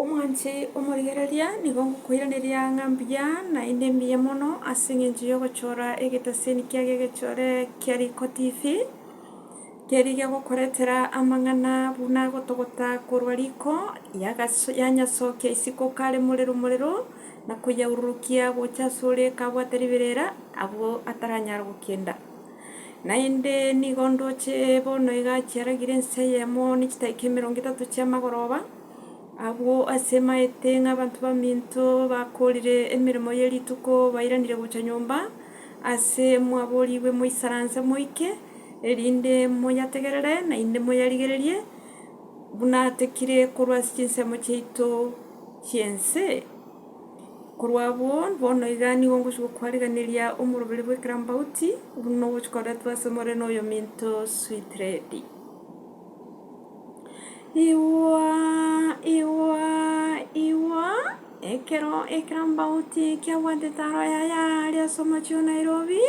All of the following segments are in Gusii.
Omwanche omorigereria, nigo ngokoiraneria ng'a mbuya, naende mbuya mono, ase engencho y'ogochora egeteseni kia gegechore kia riko tifi, keria gegokoretera amang'ana buna agotogota korwa riko yagaso yanyasokia isiko kare morero morero, na koyaururukia gocha asore kabwate riberera, abwo ataranyara gokenda. Naende nigo ndoche bono iga chiaragire ense eyemo ne chitaika emerongo etato chi'amagoroba. Agwo ase maete ng'a abanto baminto bakoorire emeremo ye rituko bairanire gocha nyomba ase mwaboorigwe moisaranse moike, erinde moyategerere naende moyarigererie, buna atekire korwa ase chinsemo chiaito chi'ense. Korwa abwo, bono iga nigo ngochia gokwarigereria omoroberi bw'ekerambauti, buna ogochikoretwe ase more noyominto Sweet Lady. Igwaa igwaa igwaa ekero ekerambauti kiabwate taro yaye aaria ase omochie o Nairobi,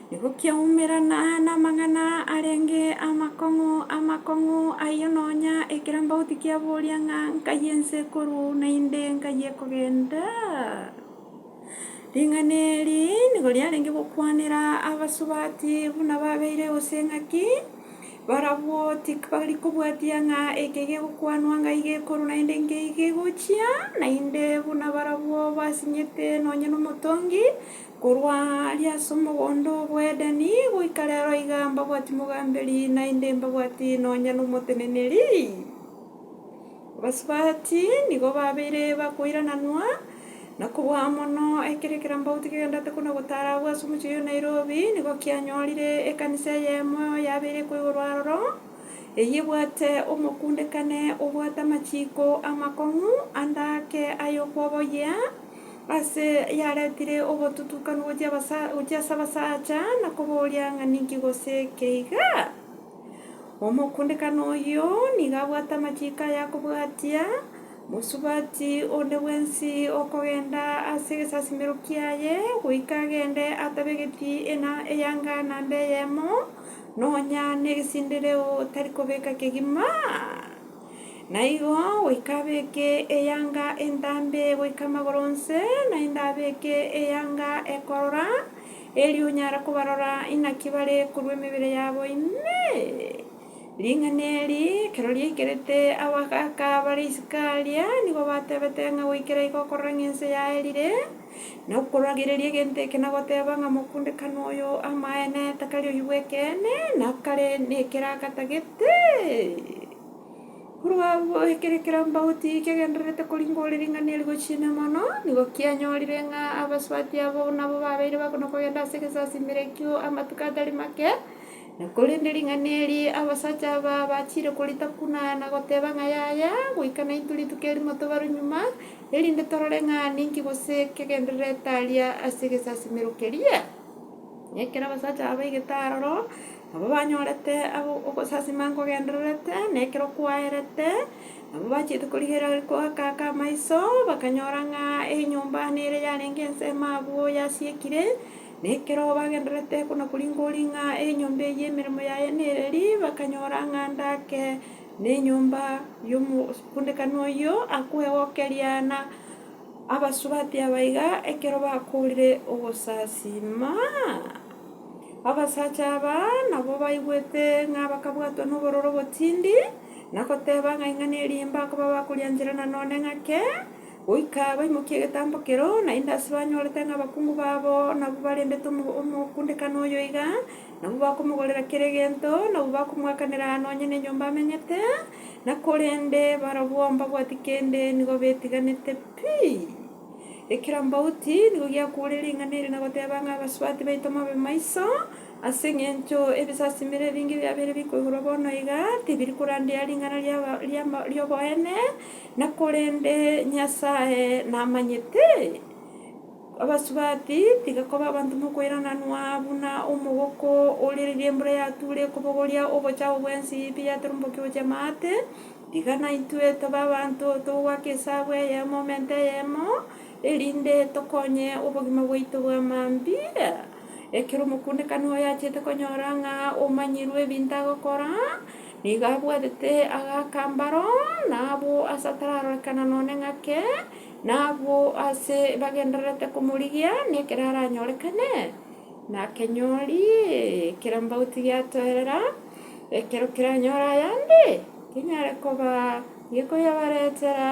Nigo kiaumerana namang'ana arenge amakong'u amakong'u ayio nonya ekerambauti kiaboria ng'a nkai ense ekoruu naende nkai ekogenda? Ring'ana eri nigo riarenge gokwanera abasubati buna babeire gose ng'a ki, barabwo tibari kobwatia ng'a eke gegokwanwa ngai gekoruu naende nkei gegochia, naende buna barabwo basinyete nonya nomotongi, Korwa aaria ase omogondo bw'Edeni goika reero iga mbabwati mogamberi, naende mbabwati nonya nomoteneneri. Abasubati nigo babeire bakoirananwa, na kobua mono, ekero ekerambauti kegenderete kona-gotaara agwo ase omochie oyio o Nairobi, nigo kianyorire ekanisa eyemo yabeire ekoigorwa aroro, eyio ebwate omokundekane obwate amachiiko amakong'u ande ake ay'okwoboyia, Ase yaretire obotutukanu gochia abasa gochia ase abasacha na koboria ng'a ninki gose keiga? Omokundekano oyio nigo abwate amachiiko aya akobwatia, Mosubati onde bwensi okogenda ase egesasimero kiaye goika agende atabegeti ena eyanga naende eyemo, nonya negesindireo tari kobeka kegima. Na igo goika abeeke eyanga entambe goika amagoro onsi, naende abeeke eyanga ekorora, erio onyare kobarora inaki bare korwa emebere yabo ime. Ring'ana eri ekero riaikerete abagaaka bare isiko aaria nigo batebete ng'a goikera igo okorora ng'a ense yaerire, Na okoragereria egento eke na goteba ng'a mokundekano oyo amaene takari oyio bw'ekeene, na kare nekeraka tagete. Korwa agwo ekere kera mbauti kegendererete koringa ore ring'ana eri gochia ime mono, nigo kianyorire ng'a abasubati abo nabo babeire bakona kogenda ase egesasiimero ekio amatuko atari make. Na korende ring'ana eri abasacha aba bachiire koritakunana goteba ng'a yaya, goika naintwe rituko erimo tobarwe nyuma, erinde torore ng'a ninki gose kegenderere etaria ase egesasimero keria. Na ekero abasacha aba baigete aroro, nabo banyorete aba ogosasima nkogendererete, na ekero kwaerete, nabo bachiete korigereria goakaka amaiso, bakanyora ng'a enyomba nere yarenge ensemo abwo yasiekire. Na ekero bagendererete buna koringoria ng'a enyomba eye emeremo yaye nereri, bakanyora ng'a ndake. Nenyomba y'omosundekani oyio akwegokeria, na abasubati abaiga ekero bakoorire ogosasiima. Abasacha aba nabo baigwete ng'a bakabwatwa nobororo botindi, na goteba ng'a ing'ana eriimba koba bakoriancherana nonye ng'ake, goika baimokie egetambo keroo, naende ase banyorete ng'a abakungu babo nabwo barendete omosundekani oyo iga. Nabwo bakomogorera kera egento, nabwo bakomoakanera aye nonya nenyomba amenyete, na korende barabwo mbabwati kende, nigo betiganete pi. Ekero mbauti nigo giakuureire ring'ana eri na goteba ng'a abasubati baito mobe maiso, ase engencho ebisasimero ebinge biabeire bikoigorwa bono iga, tibiri korandia ring'ana ri'aba ri'ama ri'oboene, na korende Nyasae namanyete. Abasubati tiga koba abanto mokoirananwa, buna omogoko ore riria embura yature ekobogoria obocha abwo bwensi biyatorombokire gochia amaate, tiga naintwe tobe abanto togoaka esabu eyemo omente eyemo, erinde tokonye obogima bwaito bwa mambia. Ekero omokundekani oye achiete konyora ng'a omanyirwe ebinto agokora, nigo abwatete agaaka mbaro, na abwo ase atararorekana none ng'ake, Na abwo aase bagendererete komorigia nekero aranyorekane, nakenyori, ekerambauti giatoerera, ekero keranyore ayande, kenyare koba gekoyabaretera.